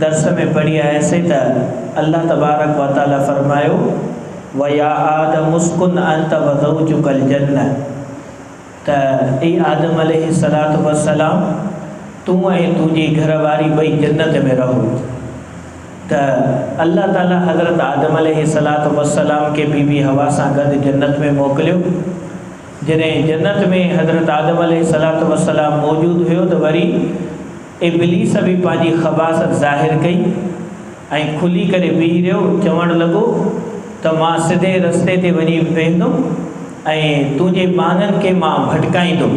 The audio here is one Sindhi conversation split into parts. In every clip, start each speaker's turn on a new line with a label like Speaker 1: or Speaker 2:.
Speaker 1: درس ۾ پڙهي آياسين ته الله تبارڪ و تعالي فرمايو، ويا آدم اسڪن انت وزوجک الجنة ته اي آدم عليه الصلاة والسلام تون ۽ تنهنجي گهر واري ٻئي جنت ۾ رهو ته الله تعالي حضرت آدم عليه الصلاة والسلام کي بي بي حوا سان گڏ جنت ۾ موڪليو جڏهن جنت ۾ حضرت آدم عليه الصلاة والسلام موجود هيو ته وري ابليس به پنهنجي خباثت ظاهر ڪئي ۽ کلي ڪري بيهي رهيو، چوڻ لڳو ته مان سڌي رستي تي وڃي ويهندم ۽ تنهنجي ٻانهن کي مان ڀٽڪائيندم،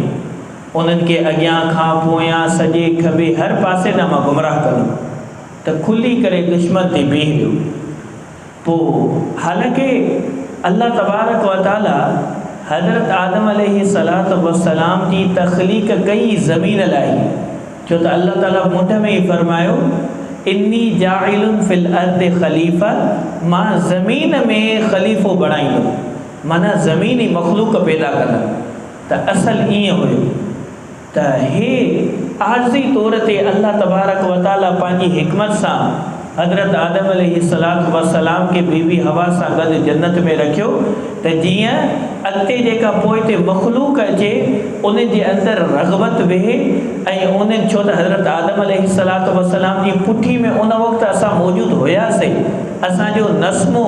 Speaker 1: انهن کي اڳيان کان پويان، سڄي کٻي هر پاسي ڏانهن مان گمراهه ڪندم ته کلي ڪري دشمن تي بيهي رهيو. پوء حالانڪه الله تبارڪ و تعالي حضرت آدم عليه الصلوة والسلام جي تخليق ڪئي زمين لاء ئي، ڇو ته الله تعالي منڍ ۾ ئي فرمايو، اني جاعل في الارض خليفه، مان زمين ۾ خليفو بڻائيندم، معنيٰ زمين ئي مخلوق پيدا ڪندم، ته اصل ائين هيو. ته هي عارضي طور تي الله تبارڪ و تعاليٰ پنهنجي حڪمت سان حضرت آدم عليه الصلوة والسلام کي بيبي حوا سان گڏ جنت ۾ رکيو ته جيئن اڳتي جيڪا پوئتي مخلوق اچي ان جي اندر رغبت ويهي ۽ ان ڇو ته حضرت آدم عليه الصلوة والسلام جي پٺي ۾ ان وقت اسان موجود هياسين. اسان جو نسمو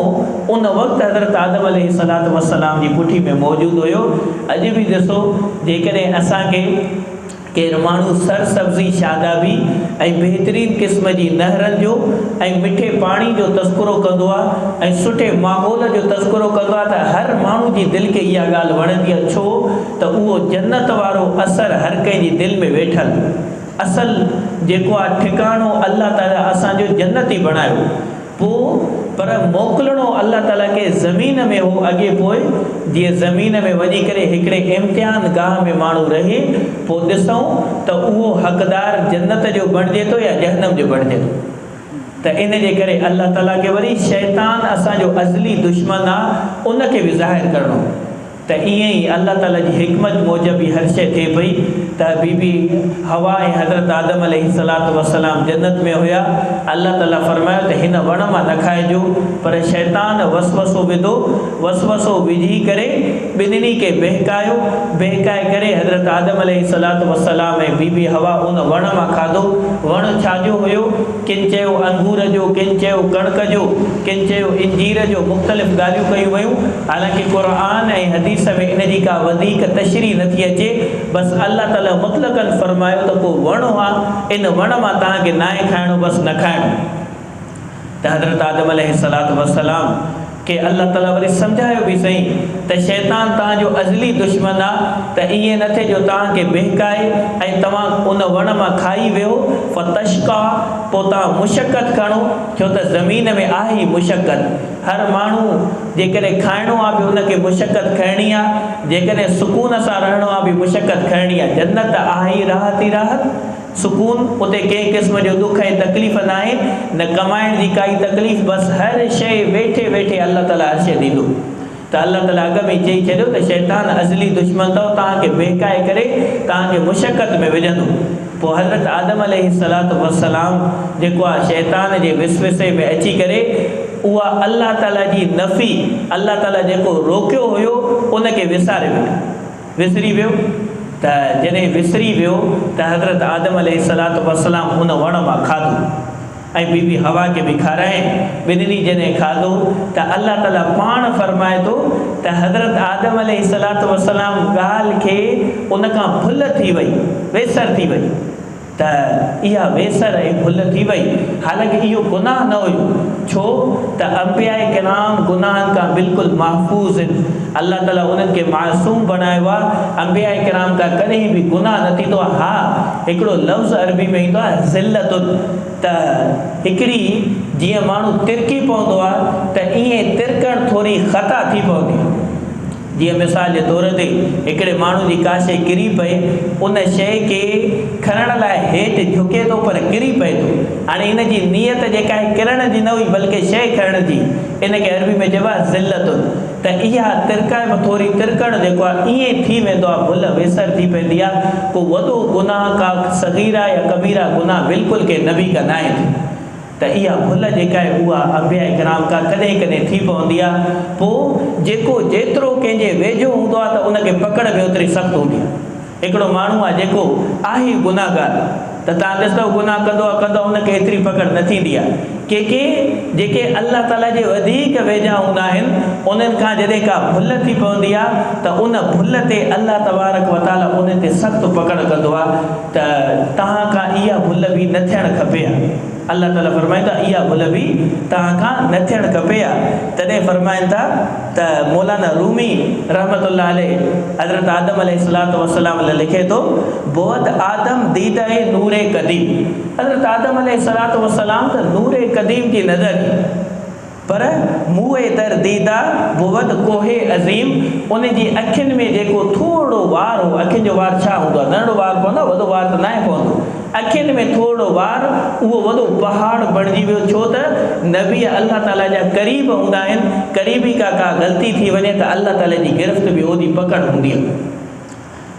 Speaker 1: ان وقت حضرت آدم عليه الصلوة والسلام جي پٺي ۾ موجود هيو. اڄ به ڏسو جيڪڏهن اسان کي ڪير ماڻهو سر سبزي شادابي ۽ بهترين قسم جي نهرن جو ۽ مٺي پاڻي جو تذڪرو ڪندو آ ۽ سٺي ماحول جو تذڪرو ڪندو آ ته هر ماڻهو جي دل کي اها ڳالهه وڻندي آ ڇو ته اهو جنت وارو اثر هر ڪنهن جي دل ۾ ويٺل اصل جيڪو آ ٺڪاڻو الله تعالي اسان جو جنت ئي بڻايو پو پر موڪلڻو الله تعالي کي زمين ۾ هو اڳي پوء جيئن زمين ۾ وڃي ڪري هڪڙي امتحان گاهه ۾ ماڻهو رهي پو ڏسئون ته اهو حقدار جنت جو بڻجي ٿو يا جهنم جو بڻجي ٿو ته ان جي ڪري الله تعالي کي وري شيطان اسان جو ازلي دشمن آ ان کي به ظاهر ڪرڻو ته ائين ئي الله تعاليٰ جي حڪمت موجب ئي هر شيء ٿئي پئي ته بي بي حوا ۽ حضرت آدم عليه الصلوة والسلام جنت ۾ هيا الله تعاليٰ فرمايو ته هن وڻ مان نه کائجو پر شيطان وسوسو وڌو وسوسو وجهي ڪري ٻنهي کي ٻهڪايو ٻهڪائي ڪري حضرت آدم عليه الصلوة والسلام ۽ بي بي حوا ان وڻ مان کاڌو وڻ ڇا جو هيو؟ ڪن چيو انگور جو، ڪن چيو ڪڻڪ جو، ڪن چيو انجير جو مختلف ڳالهيون ڪيون ويون، حالانڪه قرآن ۽ حديث ۾ ان جي ڪا وڌيڪ تشريح نٿي اچي، بس الله تعاليٰ مطلقاً فرمايو ته ڪو وڻ هو ان وڻ مان توهان کي ناهي کائڻو بس نه کائڻو ته حضرت آدم عليه السلام کي الله تعالي وري سمجهايو به سهي ته شيطان توهان جو ازلي دشمن آ ته ائين نه ٿئي جو توهان کي بهڪائي ۽ توهان ان وڻ مان کائي ويهو فتشقا پوء توهان مشقت کڻو ڇو ته زمين ۾ آهي ئي مشقت هر ماڻهو جيڪڏهن کائڻو آ به ان کي مشقت کڻڻي آ جيڪڏهن سڪون سان رهڻو آ به مشقت کڻڻي آ جنت آهي ئي راحت ئي راحت. سڪون، اتي ڪنهن قسم جو ڏک ۽ تڪليف ناهي، نه ڪمائڻ جي ڪائي تڪليف، بس هر شيء ويٺي ويٺي الله تعاليٰ هر شيء ڏيندو. ته الله تعاليٰ اڳ ۾ ئي چئي ڇڏيو ته شيطان ازلي دشمن اٿئو، توهان کي بهڪائي ڪري توهان کي مشقت ۾ وجهندو. پوء حضرت آدم عليه الصلوة والسلام جيڪو آ شيطان جي وسوسي ۾ اچي ڪري اها الله تعاليٰ جي نفي، الله تعاليٰ جيڪو روڪيو هيو، ان کي وساري ويٺو. وسري ويو ته جڏهن وسري ويو ته حضرت آدم عليه الصلوة والسلام ان وڻ مان کاڌو ۽ بي بي حوا کي به کارايائين ٻنهي جڏهن کاڌو ته الله تعالي پاڻ فرمائي ٿو ته حضرت آدم عليه الصلوة والسلام ڳالهه کي ان کان ڀل ٿي وئي، ويسر ٿي وئي. ته اها ويسر ۽ ڀل ٿي وئي، حالانڪه اهو گناهه نه هيو، ڇو ته انبياء ڪرام گناهن کان بلڪل محفوظ هن، الله تعاليٰ انهن کي معصوم بڻايو آهي، انبياء ڪرام کان ڪڏهن به گناهه نه ٿيندو آهي، ها هڪڙو لفظ عربي ۾ ايندو آهي ذلة ته هڪڙي جيئن ماڻهو ترڪي پوندو آهي ته ايئن ترڪڻ ٿوري خطا ٿي پوندي آهي. جيئن مثال جي طور تي هڪڙي ماڻهو جي ڪا شيء ڪري پئي، ان شيء کي کڻڻ لاء هيٺ جهڪي ٿو پر ڪري پئي ٿو. هاڻي ان جي نيت جيڪا آهي ڪرڻ جي نه هئي بلڪه شيء کڻڻ جي. ان کي عربي ۾ چئبو آهي ذلت. ته اها ترڪائپ ٿوري ترڪڻ جيڪو آهي ائين ٿي ويندو آهي ڀل ويسر ٿي پوندي آهي. ڪو وڏو گناهه ڪا صغيره يا ڪبيره گناهه بلڪل ڪي نبي ڪا ناهي ٿي. ته اها ڀل جيڪا آهي اها انبياء ڪرام کان ڪڏهن ڪڏهن ٿي پوندي آهي پوء جيڪو جيترو ڪنهن جي ويجهو هوندو آهي ته ان کي پڪڙ به اوتري سخت هوندي آهي هڪڙو ماڻهو آهي جيڪو آهي ئي گناهگار ته تان ڏسندؤ گناهه ڪندو آهي ڪندو آهي ان کي ايتري پڪڙ نه ٿيندي آهي ڪي ڪي جيڪي الله تعالي جي وڌيڪ ويجها هوندا آهن انهن کان جڏهن ڪا ڀل ٿي پوندي آهي ته ان ڀل تي الله تبارڪ وتعالي انهن تي سخت پڪڙ ڪندو آهي ته توهان کان اها ڀل به نه ٿيڻ کپي ها. الله تعالي فرمائن ٿا اها ڀل به توهان کان نه ٿيڻ کپي ها. تڏهن فرمائن ٿا ته مولانا رومي رحمة الله عليه حضرت آدم عليه الصلوة والسلام لاء لکي ٿو، بوت آدم ديده نور قديم حضرت آدم عليه الصلوة والسلام ته نور قديم جي نظر ئي. پر موئي در ديده بود ڪوه عظيم ان جي اکين ۾ جيڪو ٿورڙو وار هو، اکين جو وار ڇا هوندو آهي، ننڍڙو وار پوندو آهي، وڏو وار ته ناهي پوندو، اکين ۾ ٿورڙو وار اهو وڏو پهاڙ بڻجي ويو ڇو ته نبي الله تعاليٰ جا قريب هوندا آهن، قريبي کان ڪا غلطي ٿي وڃي ته الله تعاليٰ جي گرفت به اوڏي پڪڙ هوندي آهي.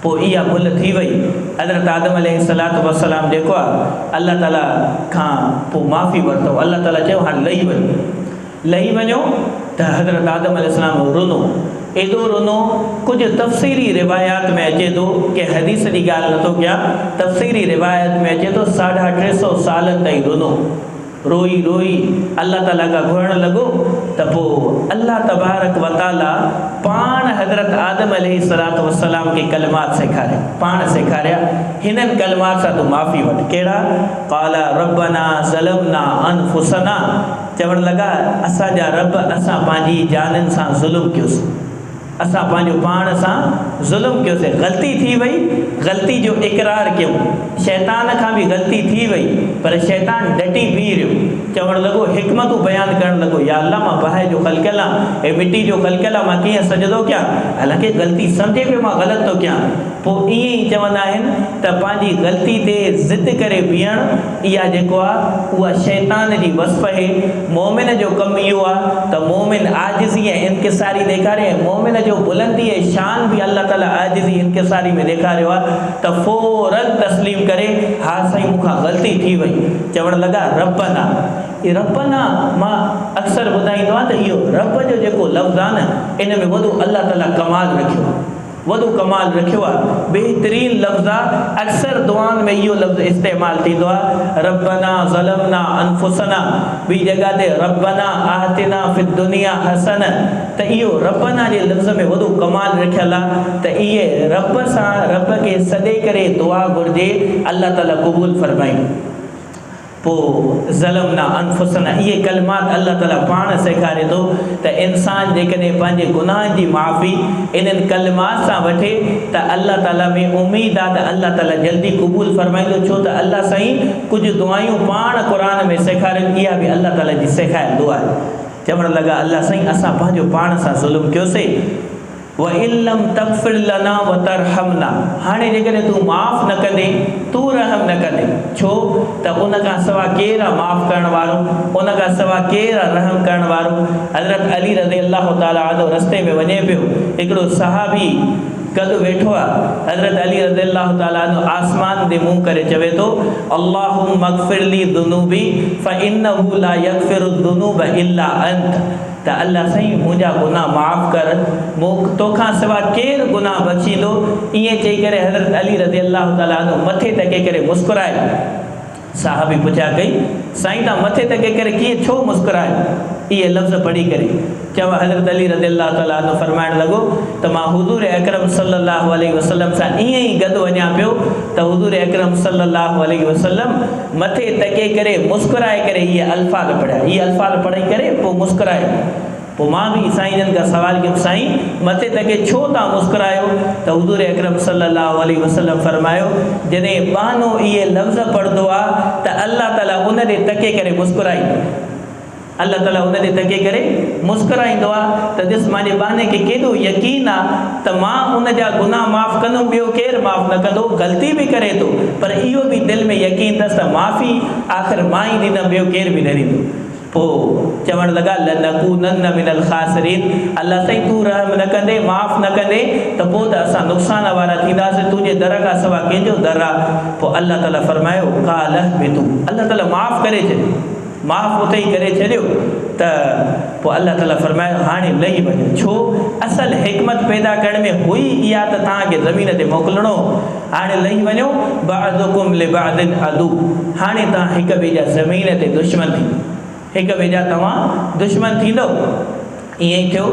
Speaker 1: پوء اها ڀل ٿي وئي. حضرت آدم عليه الصلوة والسلام جيڪو آهي الله تعالي کان پوء معافي ورتو. الله تعالي چيو هاڻ لهي وڃو. لهي وڃو ته حضرت آدم عليه السلام رنو. ايڏو رنو ڪجهه تفسيري روايات ۾ اچي ٿو، ڪنهن حديث جي ڳالهه نٿو ڪيان، تفسيري روايات ۾ اچي ٿو ساڍا ٽي سؤ سالن تائين رنو. روئي روئي الله تعاليٰ کان گهرڻ لڳو ته پوء الله تبارڪ و تعاليٰ پاڻ حضرت آدم عليه الصلوة والسلام کي ڪلمات سيکاريا، پاڻ سيکاريا، هنن ڪلمات سان تون معافي وٺ، ڪهڙا؟ قالا ربنا ظلمنا انفسنا، چوڻ لڳا، اسان جا رب اسان پنهنجي جانن سان ظلم ڪيوسين. اسان پنهنجو پاڻ سان ظلم ڪيوسين، غلطي ٿي وئي، غلطي جو اقرار ڪيون، شيطان کان به غلطي ٿي وئي، پر شيطان ڊٽي بيهي رهيو، چوڻ لڳو، حڪمتون بيان ڪرڻ لڳو، يا الله مان باهه جو خلقيل آهيان، هي مٽي جو خلقيل آهيان، مان ڪيئن سجدو ڪيان، حالانڪه غلطي سمجهي پيو مان غلط ٿو ڪيان، پوء ائين ئي چوندا آهن ته پنهنجي غلطي تي ضد ڪري بيهڻ، اها جيڪو آ اها شيطان جي وصف هي، مؤمن جو ڪم اهو آ ته مؤمن عاجزي ۽ انڪساري ڏيکاري ۽ مؤمن جو بلندي ۽ شان به الله تعالي عاجزي انڪساري ۾ ڏيکاريو آ ته فورا تسليم ڪري ها سائين مون کان غلطي ٿي وئي چوڻ لڳا ربّنا اي ربّنا مان اڪثر ٻڌائيندو آهيان ته اهو ربّ جو جيڪو لفظ آ نه ان ۾ وڏو الله تعالي ڪمال رکيو آ. وڏو ڪمال رکيو آ. بهترين لفظ آ اڪثر دعائن ۾ اهو لفظ استعمال ٿيندو آ ربنا ظلمنا انفسنا ٻي جڳهه تي ربنا آتنا في الدنيا حسنه ته اهو ربنا جي لفظ ۾ وڏو ڪمال رکيل آ ته اهي رب سان رب کي سڏي ڪري دعا گهرجي الله تعالي قبول فرمائي. پوء ظلمنا انفسنا اهي ڪلمات الله تعاليٰ پاڻ سيکاري ٿو ته انسان جيڪڏهن پنهنجي گناهن جي معافي انهن ڪلمات سان وٺي ته الله تعاليٰ ۾ اميد آهي ته الله تعاليٰ جلدي قبول فرمائيندو ڇو ته الله سائين ڪجهه دعايون پاڻ قرآن ۾ سيکارين اها به الله تعاليٰ جي سيکايل دعا چوڻ لڳا الله سائين اسان پنهنجو پاڻ سان ظلم ڪيوسي وَإِن لَمْ تَغْفِرْ لَنَا وَتَرْحَمْنَا هاڻي جيڪڏهن تون معاف نه ڪندين، تون رحم نه ڪندين، ڇو ته ان کان سوا ڪير آ معاف ڪرڻ وارو، ان کان سوا ڪير آ رحم ڪرڻ وارو. حضرت علي رضي الله تعالٰي عنه رستي ۾ وڃي پيو، هڪڙو صحابي گڏ ويٺو آ، حضرت علي رضي الله تعالٰي عنه آسمان ڏي منهن ڪري چوي ٿو، اللهم اغفر لي ذنوبي فإنه لا يغفر الذنوب الا انت. ته الله سائين منهنجا گناهه معاف ڪر، مون توکان سوا ڪير گناهه بخشيندو؟ ائين چئي ڪري حضرت علي رضي الله تعالٰي عنه مٿي ٽڪي ڪري مسڪرائي. صحابي پڇا ڪئي، سائين تان مٿي ٽڪي ڪري ڪيئن ڇو مسڪرايو؟ اهي لفظ پڙهي ڪري چيو حضرت علي رضي الله تعالٰي عنه فرمائڻ لڳو ته مان حضور اڪرم صلّي الله عليه وسلّم سان ائين ئي گڏ وڃان پيو ته حضور اڪرم صلّي الله عليه وسلّم مٿي تڪي ڪري مسڪرائي ڪري اهي الفاظ پڙهيا. اهي الفاظ پڙهي ڪري پوء مسڪرائي. پوء مان به سائين جن کان سوال ڪيم سائين مٿي تڪي ڇو توهان مسڪرايو ته حضور اڪرم صلي الله عليه وسلم فرمايو جڏهن ٻانهو اهي لفظ پڙهندو آ ته الله تعالي ان ڏي تڪي ڪري مسڪرائيندو. الله تعاليٰ ان تي تڪي ڪري مسڪرائيندو آ ته ڏس مانجي ٻانهي کي ڪيڏو يقين آ ته مان ان جا گناهه معاف ڪندم ٻيو ڪير معاف نه ڪندو غلطي به ڪري ٿو پر اهو به دل ۾ يقين ٿس ته معافي آخر مان ئي ڏيندم ٻيو ڪير به نه ڏيندو پوء چوڻ لڳا لنڪونن من الخاسرين الله سائين تون رحم نه ڪندين معاف نه ڪندين ته پوء ته اسان نقصان وارا ٿينداسين تنهنجي در کان سوا ڪنهن جو در آ پوء الله تعاليٰ فرمايو قال اهبطو الله تعاليٰ معاف ڪري ڇڏيو. معاف اتي ئي ڪري ڇڏيو ته پوء الله تعالي فرمايو هاڻي لهي وڃو ڇو اصل حڪمت پيدا ڪرڻ ۾ هئي اها ته توهان کي زمين تي موڪلڻو هو هاڻي لهي وڃو بعضڪم لبعض عدو هاڻي توهان هڪ ٻئي جا زمين تي دشمن ٿيندو هڪ ٻئي جا توهان دشمن ٿيندؤ. ائين ئي ٿيو.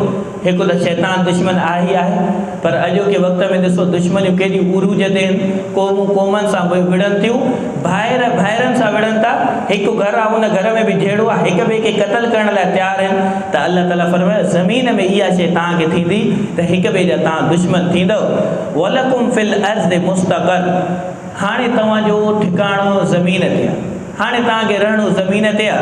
Speaker 1: هڪ ته شيطان دشمن آهي ئي آهي، پر اڄوڪي وقت ۾ ڏسو ڏشمنيون ڪيڏي عروج تي آهن. قومون قومن سان وڙهن ٿيون، ڀائر ڀائرن سان وڙهن ٿا، هڪ گهر آ ان گهر ۾ به جهيڙو آ، هڪ ٻئي کي قتل ڪرڻ لاء تيار آهن ته الله تعاليٰ فرمايو زمين ۾ اها شيء توهان کي ٿيندي ته هڪ ٻئي جا توهان دشمن ٿيندؤ. ولڪم في الارض مستقر هاڻي توهان جو ٺڪاڻو زمين تي آ، هاڻي توهان کي رهڻو زمين تي آ.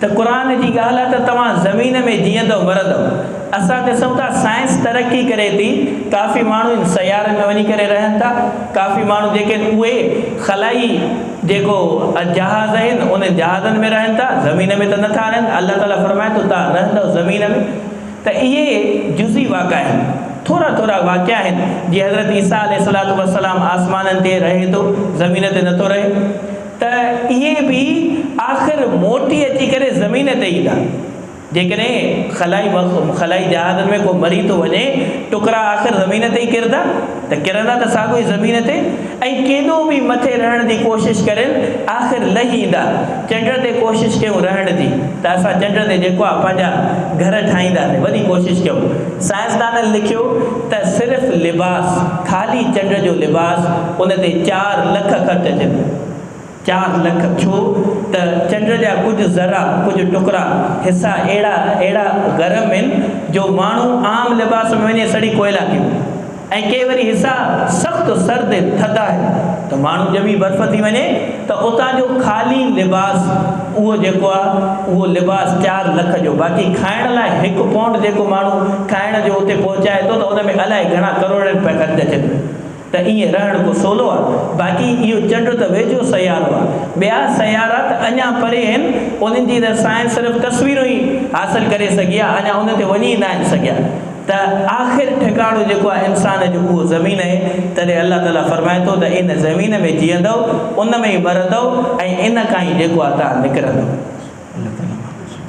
Speaker 1: ته قرآن جي ڳالهه آ ته توهان زمين ۾ جيئندؤ مرندؤ اسان ڏسون ٿا سائنس ترقي ڪري ٿي ڪافي ماڻهو ان سيارن ۾ وڃي ڪري رهن ٿا ڪافي ماڻهو جيڪي آهن اهي خلائي جيڪو جهاز آهن انهن جهازن ۾ رهن ٿا زمين ۾ ته نٿا رهن الله تعالي فرمائي ٿو توهان رهندؤ زمين ۾ ته اهي جزئي واقعا آهن ٿورا ٿورا واقعا آهن جيئن حضرت عيسيٰ عليه السلام آسمانن تي رهي ٿو زمين تي نٿو رهي ته اهي به آخر موٽي اچي ڪري زمين تي ايندا. جيڪڏهن خلائي مخ، خلائي جهازن ۾ ڪو مري ٿو وڃي، ٽڪرا آخر زمين تي ئي ڪرندا، ته ڪرندا ته ساڳيو ئي زمين تي ۽ ڪيڏو به مٿي رهڻ جي ڪوشش ڪرين، آخر لهي ايندا. چنڊ تي ڪوشش ڪيون رهڻ جي، ته اسان چنڊ تي جيڪو آهي پنهنجا گهر ٺاهينداسين، وڏي ڪوشش ڪيون. سائنسدانن لکيو ته صرف لباس، خالي چنڊ جو لباس، ان تي چار لک خرچ اچن ٿا. چار لک ڇو ته چنڊ جا ڪجهه ذرا، ڪجهه ٽڪرا، حصا اهڙا اهڙا گرم هن جو ماڻهو عام لباس ۾ وڃي سڙي ڪوئلا ٿي وڃي ۽ ڪي وري حصا سخت سرد هن، ٿڌا هن ته ماڻهو ڄمي برف ٿي وڃي ته اتان جو خالي لباس اهو جيڪو آهي اهو لباس چار لک جو باقي کائڻ لاء هڪ پونڊ جيڪو ماڻهو کائڻ جو اتي پهچائي ٿو ته ان ۾ الائي گهڻا ڪروڙين رپيا خرچ اچن ٿا. ته ائين رهڻ ڪو سولو آ. باقي اهو چنڊ ته ويجهو سيارو آ. ٻيا سيارا ته اڃا پري هين. انهن جي ته سائنس صرف تصويرون ئي حاصل ڪري سگهي آ. اڃا انهن تي وڃي ئي ناهن سگهيا. ته آخر ٺڪاڻو جيڪو آ انسان جو اهو زمين اهي. تڏهن الله تعاليٰ فرمائي ٿو ته ان زمين ۾ جيئندؤ، ان ۾ ئي مرندؤ ۽ ان کان ئي جيڪو آ توهان نڪرندؤ. الله تعاليٰ محفوظ رکي.